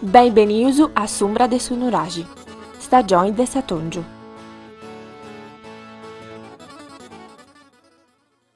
Benbenius a s'umbra de su nuraxi, stagioni de s'atongiu.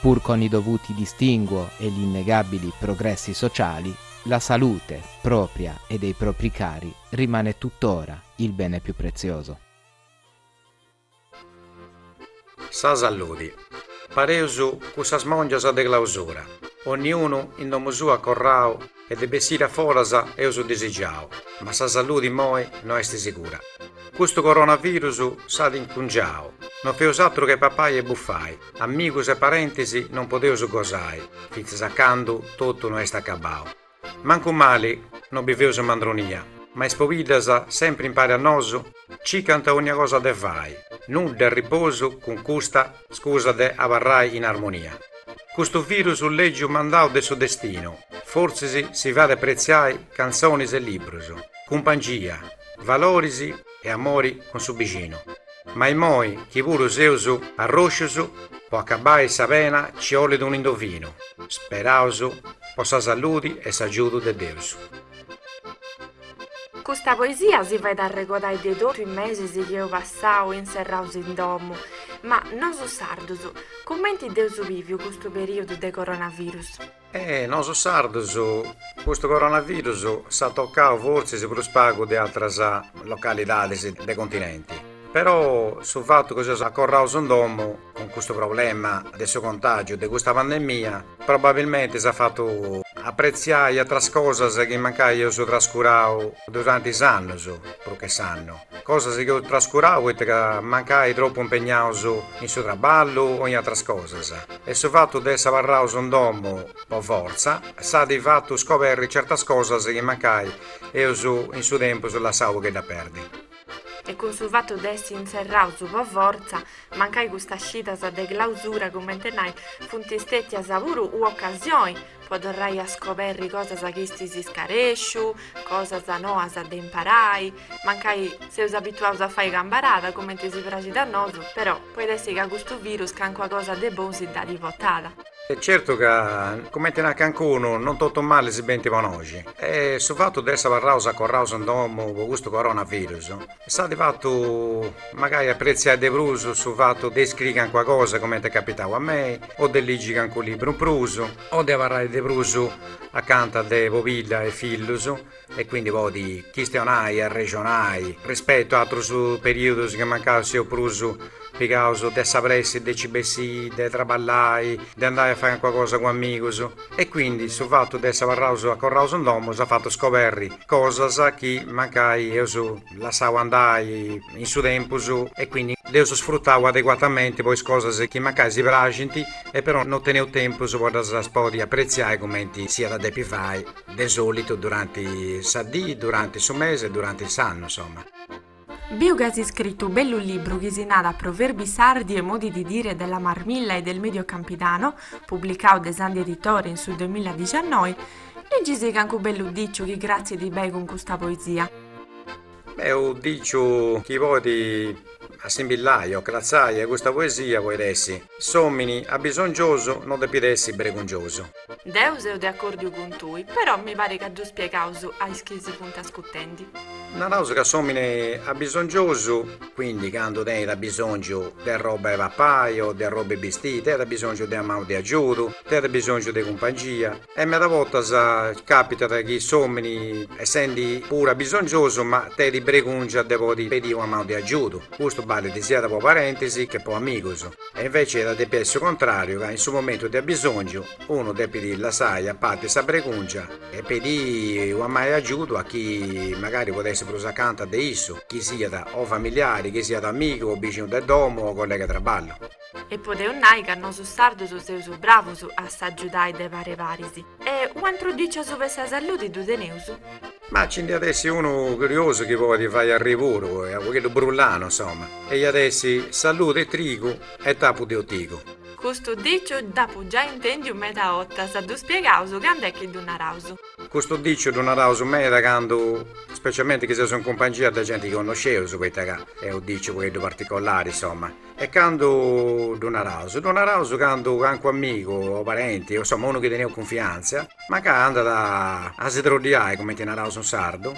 pur con i dovuti distinguo e gli innegabili progressi sociali, la salute, propria e dei propri cari, rimane tuttora il bene più prezioso. Sa salludi. Pareus cussas mòngias de clausura, onniunu in domu sua corrau e de bessiri a foras eus disigiau, ma sa salludi immoi no est sigura. Custu coronavirus s'at incungiau, no feus atru che papai e bufai, Amigus e parentis non podeus gosai fintzas a candu totu no est acabau. Mancu mali no biveus in mandronia, ma is pobiddas, sempri impari a nosu, cicant onnia cosa de fai, nudda est riposu cun custa scusa de abarrai in armonia. Custu virus lègiu mandau de su destinu, fortzis si fait apretziai cantzonis e librus, cumpangia, valoris, e amori cun su bixinu, ma immoi chi puru seus arroscius po acabai sa pena ci 'olit unu indovinu, speraus po sa saludi e s'agiudu de Deus. Custa poesia si fait arregodai de totu is mesis chi eus passau inserraus in domu, ma nosu sardus, cumenti dd'eus biviu custu periodu de coronavirus? E nosu sardus custu coronavirus s'at tocau fortzis prus pagu de atras localidades de continenti, però su fatu chi seus acorraus in domo cun custu problema de su contàgiu de custa pandemia probabilmente s'at fatu apretziai atras cosas chi mancai eus trascurau durante is annus, prus che s'annu. Cosas chi eus trascurau poita ca mancai tropu impegnaus in su traballu o in atras cosas e su fatu de essi abarraus in domu po fortza s'at fatu scoberri certas cosas chi mancai eus in su tempus lassau u pogheddu a perdi. E cun su fatu de essi inserraus po fortza, mancai custas scidas de clausura, cumenti nai, funt stètias puru u ocasioni po torrai a scoberri cosas chi istis iscaresciu, cosas noas de imparai, mancai seus abituaus a fai cambarada, cumenti si praxit a nosu, però poit essi ca custu virus cancuna cosa de bonu si dd'at botada. Est certu ca, cumenti narat cancunu, non totus malis benint po noxi e su fatu de essi abarraus acorraus in domu po custu coronavirus, S'at fatu magari apretziai de prus su fatu de iscriri cancuna cosa comente est capitau a mei o de ligi cancu libru in prus o de abarrai de prus acanta de pobidda e fillus e quindi podi chistionai, arrexonai rispetu a atrus periudus chi mancai seus prus pigaus de sa pressi de ci bessi, de traballai, de andai a fai cancuna cosa cun amigus E quindi su fatu de essi abarraus acorraus in domu s'at fatu scoberri cosas chi mancai eus lassau andai in su tempus e quindi dd'eus sfrutau adeguatamenti po is cosas chi mancai si praxint e però no teneus tempus po ddas podi apretziai cumenti si iat a depi fai de solitu duranti sa dì, duranti su mesi e duranti s'annu insoma. Biu ca as scritu u' bellu libru chi si narat Proverbi sardi e modi di dire della Marmilla e del Medio Campidano, publicau de Sandhi Editore in su 2019, ligi-sì cancu bellu diciu chi cratzit bei cun custa poesia. Beh, u' diciu chi podit assimbillai o cratzai a custa poesia poit essi. S'omini abisongiosu no depit essi bregungiosu. Deu seu de accordiu cun tui, però mi parit ca ddu spiegaus a is chi si funt ascutendi. Naraus ca s'omini abisongiosu. Quindi candu tenit abisongiu de arroba 'e papai o de arroba 'e bistiri, tenit abisongiu de una mau de agiudu, tenit abisongiu de cumpangia. E meda bortas capitat chi s'omini essendi puru abisongiosu ma tenit bregungia de podi pedi una manu de agiudu, custu ballit siat po parentis che po amigus, e inveci iat a depi essi su contrariu ca in su momentu de abisongiu unu depit lassai a parti sa bregungia e pedi una manu de agiudu a chi magari podet essi prus acanta de issu, chi siat o familiari, chi siat amigu o bixinu de domu o collega de traballu. E podeus nai ca nosu sardus seus bravus a s'agiudai de pari paris. E u' antru diciu asuba 'e sa salludi ddu teneus? Ma nci nd'iat essi unu curiosu chi poit fai arriri puru est u' pagheddu brullanu, insoma, e iat essi, Salludi e trigu e tapu de otigu. Custu diciu dd'apu giai intendiu meda 'ottas, ddu spiegaus candu est chi ddu naraus. Custu diciu ddu naraus meda candu, specialmenti chi seus in cumpangia de genti chi connosceus, poita ca est u' diciu u' pagheddu particolari, insoma. E candu ddu naraus, ddu naraus candu cancu amigu o parenti o insomma unu chi teniaus cunfiantzia mancai andat a si troddiai cumenti naraus in sardu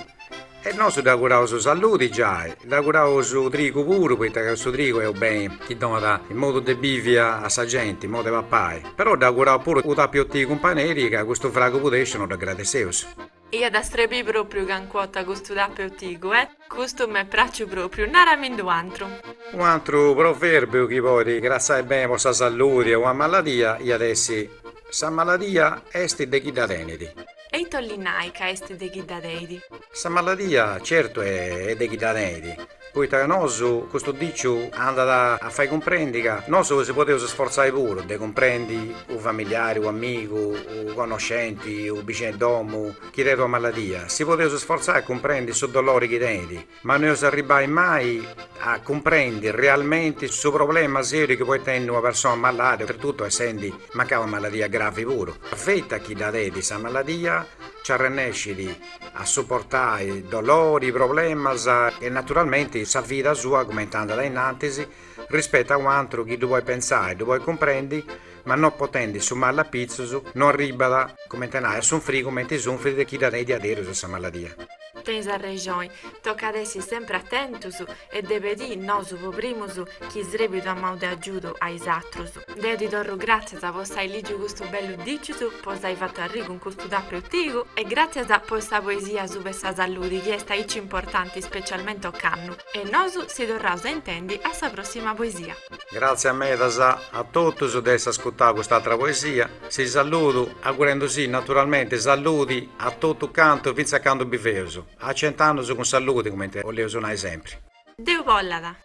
e nosu dd'auguraus salludi giai, dd'auguraus trigu puru poita ca su trigu est u' beni chi donat modu de bivi a sa genti, modu de papai, però dd'auguraus puru u' tapu 'e otigu in paneri ca custu fragu pudesciu no dd'agradesseus Iat a strebi propriu cancua ota custu tapeutigu eh. Custu m'est praciu propriu, naramindi u'antru. U'antru proverbiu chi podi cratzai beni po sa salludi e ua maladia iat essi, Sa maladia esti de chi dda tenidi. E ita ollit nai ca esti de chi dda teidi? Sa maladia certu est de chi dda teidi. Poita ca nosu custu diciu andat a fai cumprendi ca nosu si podeus sforzai puru de cumprendi u familiari, u amigu, u connoscenti, u bixinu 'e domu chi tenit una maladia, si podeus sforzai a cumprendi su dolori chi tenit, ma no eus arribbai mai a cumprendi realmenti su problema seriu chi podit tenni una persona malàdia, oltretuttu essendi mancai una maladia gravi puru. Feti a chi dda tenit sa maladia nci arrennescit a suportai dolori, problemas e naturalmenti sa vida sua cumenti andat a innantis rispetu a u' antru chi ddu podit pentzai, ddu podit cumprendi, ma non potendi su mali apitzus no arribbat, cumenti a nai, a sunfri cumenti sunfridi chi dda tenit diaderus sa maladia. Tenis arrexoni, tocat essi sempri atentus e de pedì nosu po primus chi srebit ua manu de agiudu a is atrus. Deu ti torru gràtzias po s'ai lìgiu custu bellu dìciu, po s'ai fatu arri cun custu tapeutigu e gràtzias po sa poesia suba 'e sa salludi chi est aici importanti specialmente ocannu e nosu si torraus a intendi a sa prossima poesia. Gràtzias medas a totus de essi ascutau cust'atra poesia, si salludu agurendusì naturalmenti salludi a totu cantu fintzas candu biveus, a cent'annus cun salludi cumenti oleus nai sempri. Deus bollat.